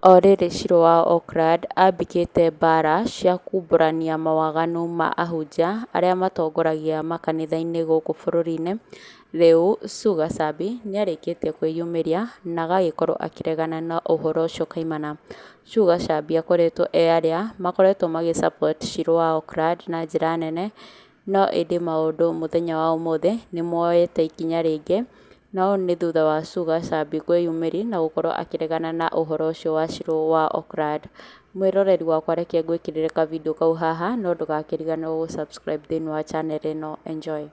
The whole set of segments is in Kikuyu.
O rĩrĩ Shirũ wa Oakland ambĩkĩte mbaara cia kumbũrania mawaganu ma ahunjia arĩa matongoragia makanitha-inĩ gũkũ bũrũri-inĩ, rĩu Sue Gacabi nĩarĩkĩtie kwĩyumĩria na agagĩkorwo akĩregana na ũhoro ũcio kaimana. Sue Gacabi akoretwo e arĩa makoretwo magĩ support Shirũ wa Oakland na njĩra nene no ĩndĩ maũndũ mũthenya wa ũmũthĩ nĩmoete ikinya rĩngĩ, na ũũ nĩ thutha wa Sugar Sabi kwĩyumĩri na gũkorwo akĩregana na ũhoro ũcio wa Shiro wa Okrad. Mwĩroreri wakwa reke ngwĩkĩrĩre ka video kau haha no ndũgakĩriganĩrwo gũ subscribe thĩinĩ wa channel ĩno. Enjoy.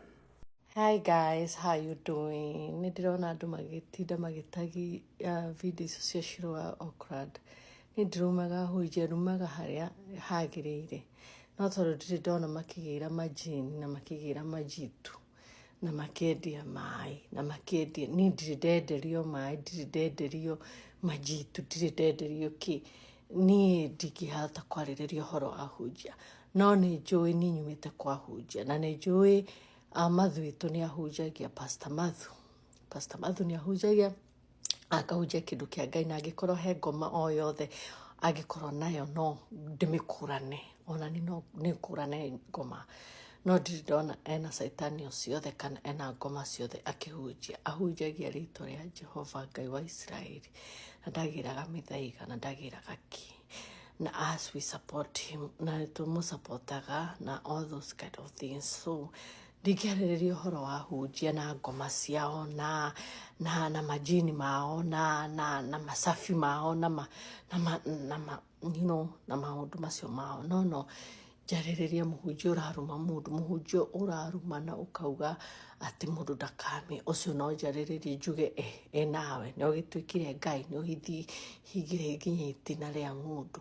Hi guys, how you doing? Nĩ ndĩrona andũ magĩtinda magĩtagi uh, video icio cia Shiro wa Okrad. Niĩ ndirumaga hũnje, rumaga harĩa hagĩrĩire. No tondũ ndirĩ ndona makĩgĩra majini na makĩgĩra majitu na makĩendia maĩ na makĩendia, niĩ ndirĩ ndenderio maĩ, ndirĩ ndenderio majitu, ndirĩ ndenderio kĩ. Niĩ ndingĩhota kwarĩrĩria ũhoro wa hũnjia. No nĩ njũĩ niĩ nyumĩte kwa hũnjia na nĩ njũĩ Mathũ witũ nĩ ahunjagia, Pastor Mathũ. Pastor Mathũ nĩ ahunjagia. akahunjia kĩndũ kĩa ngai na angĩkorwo he ngoma o yothe angĩkorwo nayo no ndĩmĩkũrane ona ni no nĩkũrane ngoma no ndirĩ ndona ena caitani o ciothe kana ena ngoma ciothe akĩhunjia ahunjagia rĩtwa rĩa jehova ngai wa isiraeli na ndagĩraga mĩthaiga na ndagĩraga ki na as we support him na tũmũsupportaga na all those kind of things so ndingĩarĩrĩria ũhoro wa hunjia na ngoma ciao na na na majini mao na na na macabi mao na ma, na ma, na ma, you know, na maũndũ macio mao no no njarĩrĩria mũhunjia ũraruma mũndũ mũhunjia ũraruma na ũkauga atĩ mũndũ ndakame ũcio no njarĩrĩrie njuge e, e nawe nĩ ũgĩtuĩkire ngai nĩ ũgĩthiĩ hingĩre nginya itina rĩa ng'ũndũ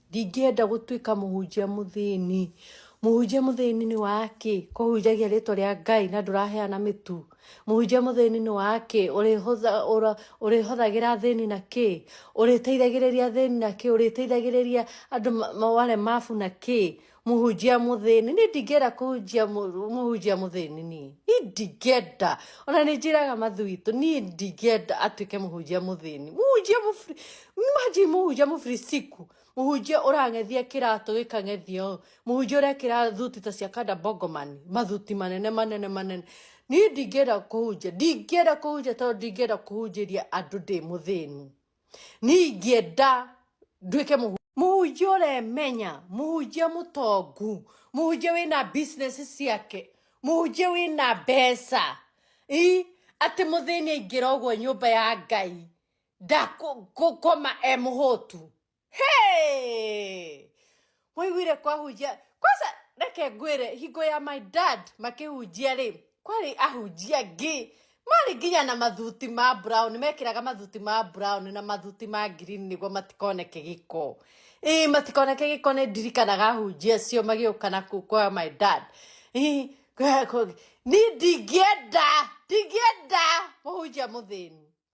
Ndingĩenda gũtuĩka mũhunjia mũthĩni. Mũhunjia mũthĩni nĩ wa kĩ? Kũhunjagia rĩtwa rĩa Ngai na ndũraheana mĩtu. Mũhunjia mũthĩni nĩ wa kĩ? Ũrĩhothagĩra thĩni na kĩ? Ũrĩteithagĩrĩria thĩni na kĩ? Ũrĩteithagĩrĩria andũ wale mabu na kĩ? mũhunjia mũthĩni nĩ ndingĩenda kũhunjia mũ- mũhunjia mũthĩni niĩ nĩ ndingĩenda ona nĩ njĩraga mathu witũ niĩ ndingĩenda atuĩke mũhunjia mũthĩni mũhunjia mũfri maji mũhunjia mũfrisiku mũhunjia ũrang'ethia kĩratũ gĩkang'ethia ũũ mũhunjia ũrekĩra thuti ta cia kanda bongomani mathuti manene manene manene niĩ ndingĩenda kũhunjia ndingĩenda kũhunjia tondũ ndingĩenda kũhunjĩria andũ ndĩ mũthĩni niä ingĩenda nduĩke mũhu mũhunjia ũremenya mũhunjia mũtongu mũhunjia wĩna business ciake mũhunjia wĩna mbeca i atĩ mũthĩni aingĩra ũguo nyũmba ya ngai ndakũkoma e mũhũtu hey! mwaiguire kwahunjia kwanza reke ngwire hingo ya my dad makĩhunjia rĩ kwarĩ ahunjia ngĩ marĩ nginya na mathuti ma brown mekĩraga mathuti ma brown na mathuti ma green nĩguo matikoneke gĩko ĩĩ matikoneke gĩko nĩ ndirikanaga ahunjia acio magĩũka na kũ- kwa my dad Ĩ, kwa- kwa- ni ndingĩenda ndingĩenda mũhunjia mũthĩni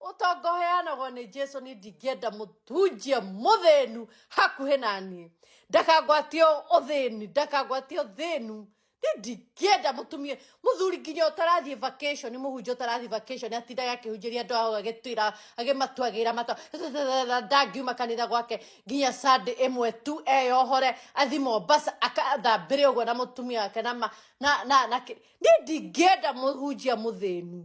ũtonga ũheanagwo nĩ jesu nĩ ndingĩenda mũtunjia mũthĩnu hakuhĩ na niĩ ndakangwatie ũthĩni ndakangwatie ũthĩnu nĩ ndingĩenda mũtumia mũthuri nginya ũtarathiĩ vacation mũhunjia ũtarathiĩ vacation atindaga akĩhunjĩria andũ ao agĩtwĩra agĩmatuagĩra mata ndangiuma kanitha gwake nginya sande ĩmwe tu eyohore athi mombasa akathambĩre ũguo na mũtumia wake na ma- na na na kĩ- nĩ ndingĩenda mũhunjia mũthĩnu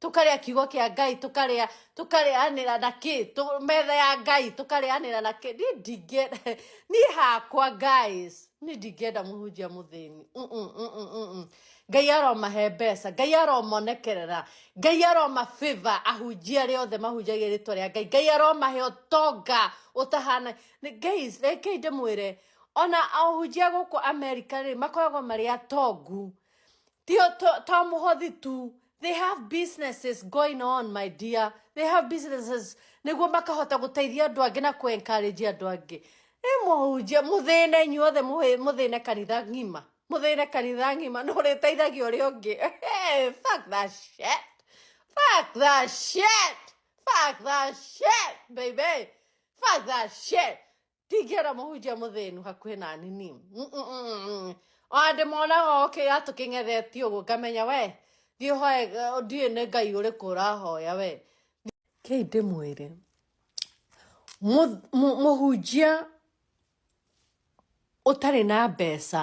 tukaria kiugo kia ngai tukaria tukarianira na ki metha ya ngai tukarianira na ki ni ndinge ni hakwa guys ni ndingenda muhunjia muthini ngai aromahe mbeca ngai aromonekerera ngai aroma favor ahunjia aria othe mahunjagia ritwa ria ngai ngai aromahe utonga utahana guys rekei ndimwire ona ahunjia guku america ri makoragwo mari atongu tio to muhothi tu They have businesses going on, my dear. They have businesses. Niguo makahota guteithia andu angi na ku-encourage andu angi. Ni muhunjia, muthine inyuothe muthine kanitha ng'ima. Muthine kanitha ng'ima, no uriteithagia uria ungi. Fuck that shit. Fuck that shit. Fuck that shit, baby. Fuck that shit. tingĩra mũhunjia mũthĩnu hakuhĩ na nini ona ndĩmonaga oke ya tũkĩng'ethetie ũguo ngamenya we thiĩ hoe ndiĩ nĩ ngai ũrĩkũ ũrahoya we kei ndĩmwĩre mũhunjia ũtarĩ na mbeca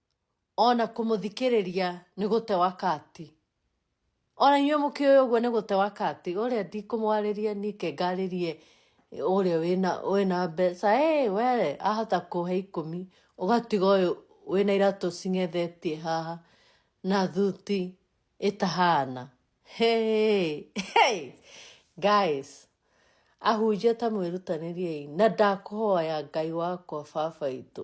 ona kũmũthikĩrĩria nĩ gũte wakati ona inyuĩ mũkĩũĩ ũguo nĩ gũte wakati ũrĩa ndikũmwarĩria nike ngarĩrie ũrĩa wĩna wĩna mbeca hey, we ahota kũhe ikũmi ũgatiga ũyũ wĩna iratũ cing'ethetie haha na thuti ĩtahana hey, hey, guys ahunjia ta mwĩrutanĩriei na ndakũhoya ngai wakwa baba itũ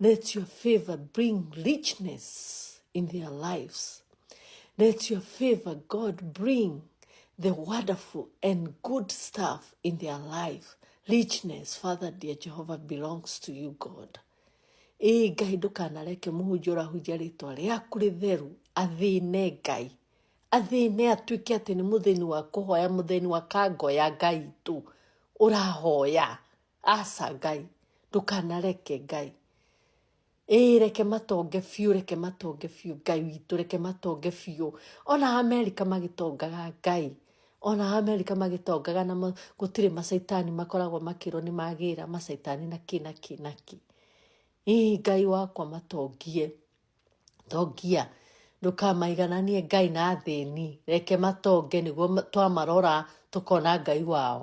Let your favor bring richness in their lives. Let your favor, God, bring the wonderful and good stuff in their life. Richness, Father, dear Jehovah, belongs to you, God. Ee Ngai ndũkanareke mũhunjia ũrahunjia rĩtwa rĩaku rĩtheru athĩne Ngai athĩne atuĩke atĩ nĩ mũthĩni wa kũhoya mũthĩni wa kangoya Ngai tu ũrahoya aca ngai ndũkanareke ngai ĩĩ reke matonge biũ reke matonge biũ ngai witũ reke matonge biũ ona amerika magĩtongaga ngai ona amerika magĩtongaga na gũtirĩ macaitani makoragwo makĩrwo nĩ magĩra macaitani na kĩ na kĩ na kĩ ĩĩ ngai wakwa matongie tongia ndũkamaigananie ngai na thĩni reke matonge nĩguo twamarora tũkona ngai wao